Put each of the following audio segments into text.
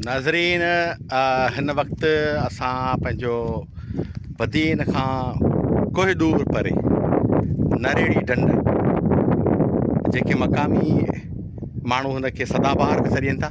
ناظرين هن وقت اسان پنهنجو بدين کان ڪوهه دور پري نريڙي ڍنڍ جيڪي مقامي ماڻهو هن کي سدا بهار به سڏين ٿا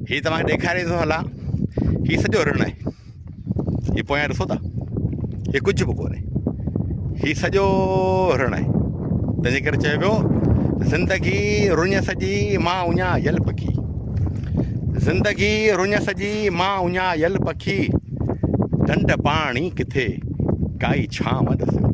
هي توهان کي ڏيکاري ٿو هلان هي سڄو رڻ آهي هي پويان ڏسو ٿا هي ڪجهه به ڪونهي هي سڄو رڻ آهي تنهنجي ڪري چيو ويو زندگي رڃ سڄي ماء اڃا يل پکي زندگي رڃ سڄي ماء اڃا يل پکي ڍنڍ پاڻي ڪٿي ڪائي ڇانو ڏسيو